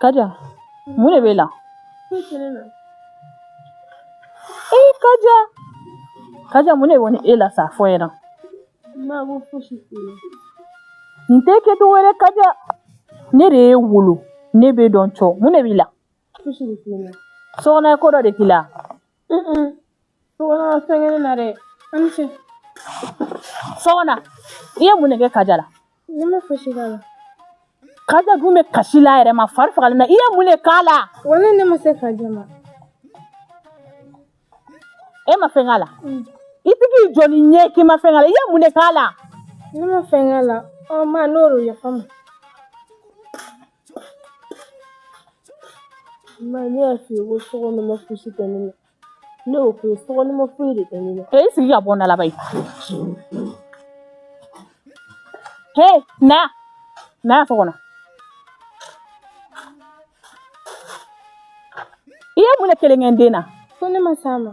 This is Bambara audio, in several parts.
Kaja mun de b'e la e kaja kaja mun de kɔni e la sa a fɔ yɛrɛ nin t'e kɛcogo wɛrɛ kaja ne de y'e wolo ne b'e dɔn cɔ mun de b'i la sokona ye ko dɔ de k'i la Sokona ma fɛn kɛ ne na dɛ an ni ce sokona i ye mun de kɛ kaja la ne ma fosi k'a la kaja dun bɛ kasi la yɛrɛ ma fari fagalen na i ye mun de k'a la wala ne ma se kaja ma e ma fɛn k'a la i tɛ k'i jɔ ni ɲɛ k'i ma fɛn k'a la i ye mun de k'a la ne ma fɛn k'a la ɔ ma n'o don yafa ma Ma ne y'a f'i ye ko sokona ma fosi kɛ ne na ne y'o f'i ye sokona ma foyi de kɛ ne na Hee sigi ka bɔ n da la bayi he na na yan sokona i ye mun de kelen kɛ n den na ko ne ma s'a ma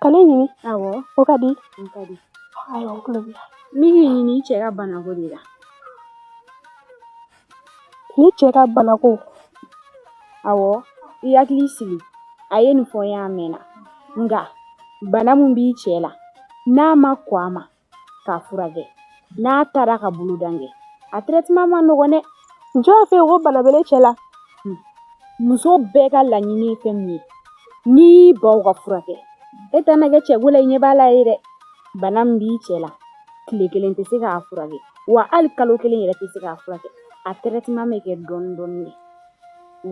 Ka ne ɲini awɔ o ka di n b'i ɲini i cɛ ka banako de la ne cɛ ka banako awɔ i hakili sigi a ye nin fɔ n ye a mɛnna nka bana min b'i cɛ la n'a ma kɔn a ma k'a furakɛ n'a taara ka bolodan kɛ a traitement man nɔgɔn dɛ jɔn y'a fɔ e ye ko bana bɛ ne cɛ la muso bɛɛ ka laɲini ye fɛn min ye n'i y'i ban k'a furakɛ e tɛ na kɛ cɛko la i ɲɛ b'a la ye dɛ bana min b'i cɛ la tile kelen tɛ se k'a furakɛ wa hali kalo kelen yɛrɛ tɛ se k'a furakɛ a traitement bɛ kɛ dɔɔnin dɔɔnin de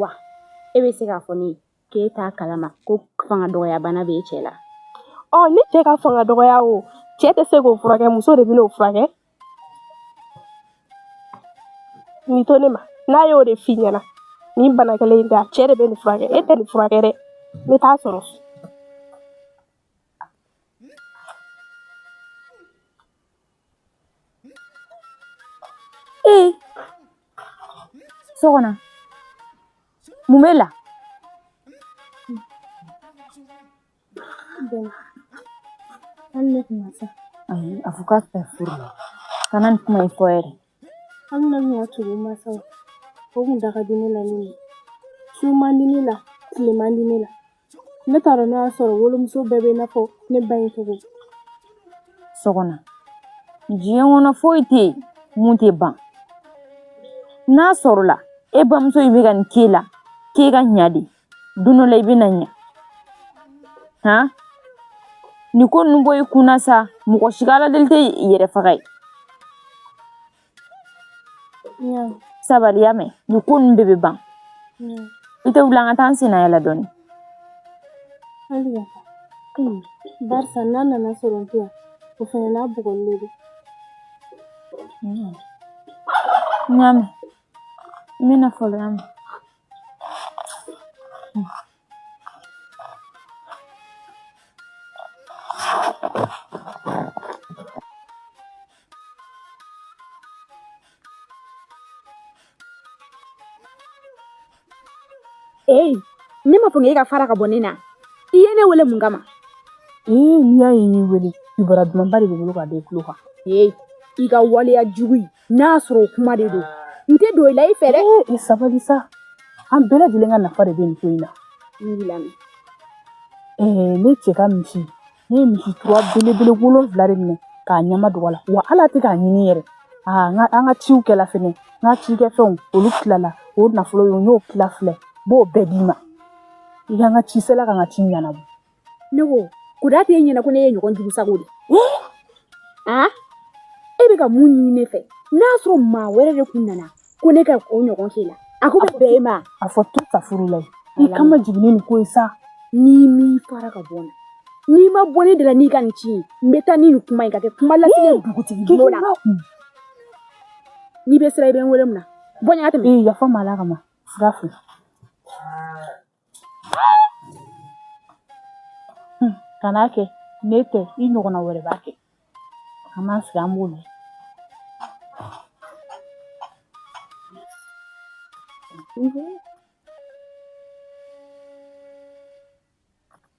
wa e bɛ se k'a fɔ ne ye k'e t'a kalama ko fanga dɔgɔya bana b'e cɛ la ɔ ne cɛ ka fanga dɔgɔya o cɛ tɛ se k'o furakɛ muso de bɛn'o furakɛ nin to ne ma n'a y'o de f'i ɲɛna nin bana kelen in tɛ a cɛ de bɛ nin furakɛ e tɛ nin furakɛ dɛ n bɛ taa sɔrɔ sokona mun b'e la hali ne tun ma se ayi a fɔ k'a tɛ furu la kana nin kuma in fɔ yɛrɛ hali na ɲa tugu masaw o kun da ka di ne la nin ye su man di ne la tile man di ne la ne t'a dɔn n'a y'a sɔrɔ wolomuso bɛɛ bɛ i n'a fɔ ne ba in cogo sokona diɲɛ kɔnɔ foyi tɛ yen mun tɛ ban n'a sɔrɔla e bamuso in bɛ ka nin k'e la k'e ka ɲa de don dɔ la i bɛna ɲa han nin ko ninnu bɔ i kun na sa mɔgɔ si ka aladeli tɛ yɛrɛ faga ye sabali y'a mɛn nin ko ninnu bɛɛ bɛ ban i tɛ wuli an ka taa an senna yaala dɔɔnin barisa n'a nana sɔrɔ n tɛ yan o fana n'a bugɔli de don n y'a mɛn n bɛna fɔlɔ y'a mɛn Ee ne m'a fɔ e ka fara ka bɔ ne na i ye ne wele mun kama ee n'i y'a ye n y'i wele kibaruya dumanba de bɛ n bolo ka da i tulo kan ee i ka waleya jugu in n'a y'a sɔrɔ o kuma de don n tɛ don o la i fɛ dɛ i sabali sa an bɛɛ lajɛlen ka nafa de bɛ nin ko in na n b'i lamɛn ɛɛ ne cɛ ka misi ne ye misi tura belebele wolonfila de minɛ k'a ɲɛma dogo a la wa hali a tɛ k'a ɲini yɛrɛ aa n ka an ka ciw kɛla fɛnɛ n ka cikɛfɛnw olu tilala o nafolo ye n y'o tila filɛ n b'o bɛɛ d'i ma i ka n ka ci sela ka n ka ci ɲɛnabɔ ne ko kuda t'e ɲɛna ko ne ye ɲɔgɔn jugu sago de a e bɛ ka mun ɲini ne fɛ n'a sɔrɔ maa wɛrɛ de kun nana ko ne ka o ɲɔgɔn k'i la a ko bɛ bɛn e ma a fɔ to ka furu la i kan ma jigin ni ko ye sa n'i m'i fara ka bɔ n na n'i ma bɔ ne da la n'i ka nin ci ye n bɛ taa ni nin kuma in ka kɛ kuma lasigi dugutigi bolo la n'i bɛ sira i bɛ n wele mun na bɔ n ɲa n ka tɛmɛ yafa n ma ala kama sira fɛ Hmm, kan'a kɛ ne tɛ i ɲɔgɔnna wɛrɛ b'a kɛ an b'an sigi an b'o lamɛn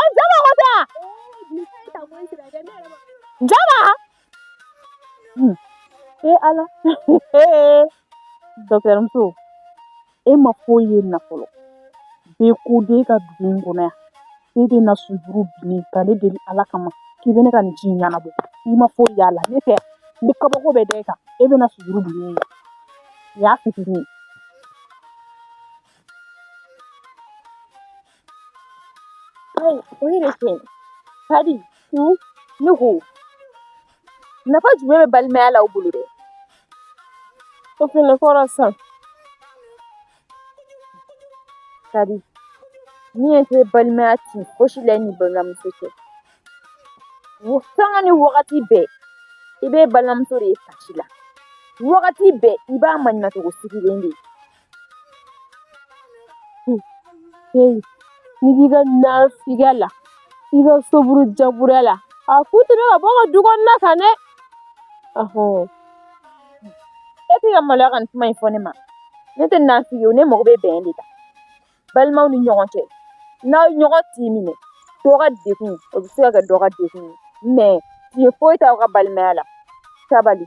Ɔ jama ko tɛ wa? Jama? Hun, ee Ala, ee docteur muso, e ma foyi ye nin na fɔlɔ, n bɛ ko de kɛ dugu in kɔnɔ yan, e bɛ na sujuru bini ka ne deli Ala kama k'i bɛ ne ka nin ci in ɲɛnabɔ, i ma foyi y'a la, ne tɛ n bɛ kabako bɛɛ da e kan, e bɛ na sujuru bini ne ye, nin y'a fitini ye. Hey, wait a second. Kadi, hmm? ne ko nafa jumɛn bɛ balimaya la aw bolo dɛ o fɛnɛ kɔrɔ sisan kadi ni e tɛ balimaya ti fosi la ni balimamuso cɛ sanga ni wagati bɛɛ i bɛ balimamuso de ye kasi la wagati bɛɛ i b'a maɲumatogo sigilen de ye N'i b'i ka nafigiya la i ka soburu jaburuya la a ku tɛmɛ ka bɔ ka du kɔnɔna ka ne e tɛ ka maloya ka kuma in fɔ ne ma ne tɛ nafigi ye ne mago bɛ bɛn de la balimaw ni ɲɔgɔn cɛ n'aw ɲɔgɔn tɛ minɛ dɔgɔ de o bɛ se ka kɛ dɔgɔ de mɛ nin foyi t'aw ka balimaya la sabali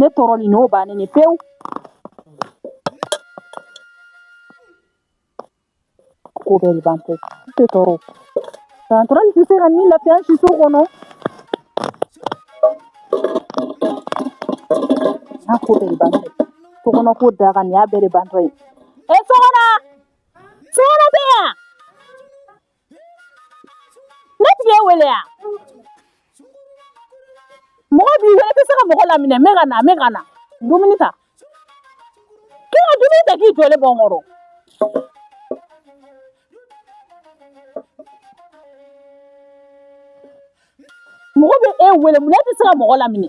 ne tɔɔrɔlen don bannen de pewu ko bɛɛ de bantɔ ye n tɛ tɔɔrɔ san tɔɔrɔ tɛ se ka ni lafiya si so kɔnɔ n'a ko bɛɛ de bantɔ ye so kɔnɔ ko da ka nin y'a bɛɛ de bantɔ ye e sɔgɔma sɔgɔma bɛ yan Ne tɛ ka e wele yan mɔgɔ b'i wele i tɛ se ka mɔgɔ laminɛ n bɛ ka na n bɛ ka na dumuni ta k'i ka dumuni ta k'i jɔlen bɔ n kɔrɔ mɔgɔ bɛ e wele munna e tɛ se ka mɔgɔ laminɛ